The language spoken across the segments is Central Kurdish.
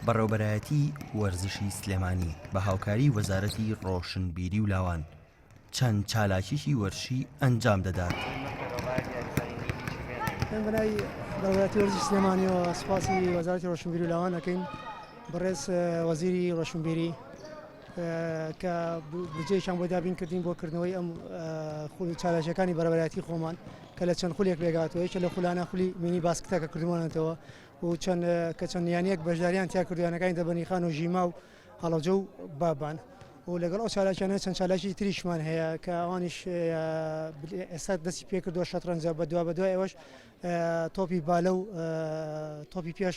بەڕێوبەرایەتیی وەرزشی سلێمانی بە هاوکاری وەزارەتی ڕۆشنبیری و لاوان چەند چالاکیی وەرشیی ئەنجام دەدات. من بەناوی بەڕێوەبەرایەتی وەرزشی سلێمانیەوە سوپاسی وەزارەتی ڕۆشنبیری و لاوان دەکەین بەڕێز وەزیری ڕۆشنبیری کە بودجەیەکیان بۆ دابین کردین بۆ کردنەوەی ئەم خول و چالاکییەکانی بەڕێوەبەرایەتی خۆمان کە لە چەند خولێک پێکهاتووە، یەکێک لەو خولانە خولی مینی باسکتە کە کردوومانەتەوە و چەند کە چەند یانەیەک بەشدارییان تیا کردووە، یانەکانی دەبەنیخان و ژیما و هەڵەبجە و بابان و لەگەڵ ئەو چالاکییانە چەند چالاکی تریشمان هەیە کە ئەوانیش ئێستا دەستی پێکردووە شەترەنجە بەدوابەدوای ئەوەش تۆپی بالە و تۆپی پێش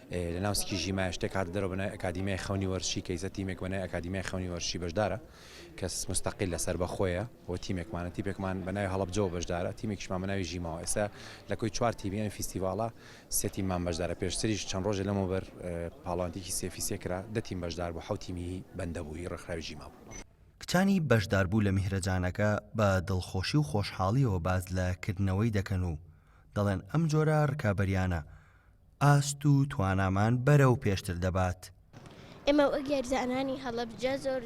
لە ناو سکی ژیمایە شتێک هاتە دەرەوە بە ناوی ئەکادیمیای خەونی وەرزشی کەیسە تیمێک بە ناوی ئەکادیمیای خەونی وەرزشی بەشدارە کە موستەقیلە سەربەخۆیە و تیمێکمانە تیپێکمان بە ناوی هەڵەبجەوە بەشدارە تیمێکیشمان بە ناوی ژیماوە ئێستا لە کۆی چوار تیمی ئەم فیستیڤاڵە سێ تیممان بەشدارە پێشتریش چەند ڕۆژێ لەمەوبەر پاڵەوانتێکی سێفی سێ کرا دە تیم بەشدار بوو حەوت تیمی بەندە بوو هی ڕێکخراوی ژیما بوو. کچانی بەشداربوو لە میهرەجانەکە بە دڵخۆشی و خۆشحاڵییەوە باس لە کردنەوەی دەکەن و دەڵێن ئەم جۆرە ڕکابەرییانە ئاست و توانامان بەرەو پێشتر دەبات. ئێمە وەک یاریزانانی هەڵەبجە زۆر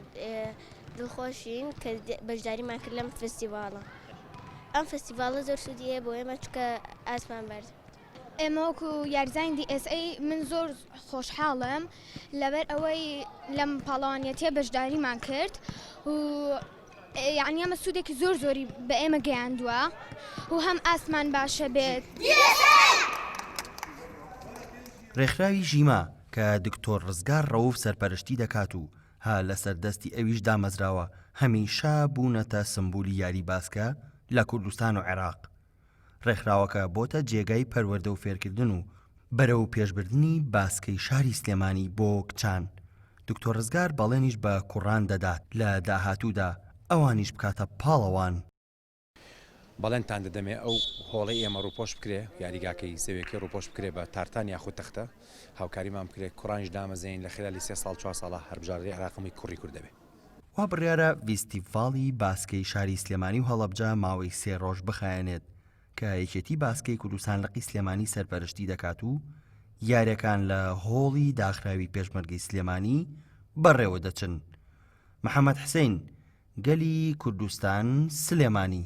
دڵخۆشین کە بەشداریمان کرد لەم فستیڤاڵە. ئەم فستیڤاڵە زۆر سوودی هەیە بۆ ئێمە چونکە ئاستمان بەرز ئێمە وەکو یاریزانانی DSA من زۆر خۆشحاڵم لەبەر ئەوەی لەم پاڵەوانیەتییە بەشداریمان کرد و یەعنی ئەمە سوودێکی زۆر زۆری بە ئێمە گەیاندووە و هەم ئاستمان باشە بێت. ڕێکخراوی ژیما کە دکتۆر ڕزگار ڕەوف سەرپەرشتی دەکات و ها لەسەر دەستی ئەویش دامەزراوە هەمیشە بوونەتە سمبولی یاری باسکە لە کوردستان و عێراق ڕێکخراوەکە بۆتە جێگای پەروەردە و فێرکردن و بەرەو پێشبردنی باسکەی شاری سلێمانی بۆ کچان، دکتۆر ڕزگار بەڵێنیش بە کوڕان دەدات لە داهاتوودا ئەوانیش بکاتە پاڵەوان. بەڵێنتان دەدەمێ ئەو هۆڵەی ئێمە ڕووپۆش بکرێ، یاریگاکەی زەویەکەی ڕووپۆش بکرێ بە تارتان یاخود تەختە، هاوکاریمان بکرێ کوڕانیش دامەزێنین لە خلالی سێ ساڵ چوار ساڵە هەربژاردەی عێراقم کوڕی کورد دەبێ. وا بڕیارە ڤیستیڤاڵی باسکەی شاری سلێمانی و هەڵەبجە ماوەی سێ ڕۆژ بخایەنێت کە یەکێتی باسکەی کوردستان لقی سلێمانی سەرپەرشتی دەکات و یاریەکان لە هۆڵی داخراوی پێشمەرگەی سلێمانی بەڕێوە دەچن محەمەد حسین گەلی کوردستان سلێمانی.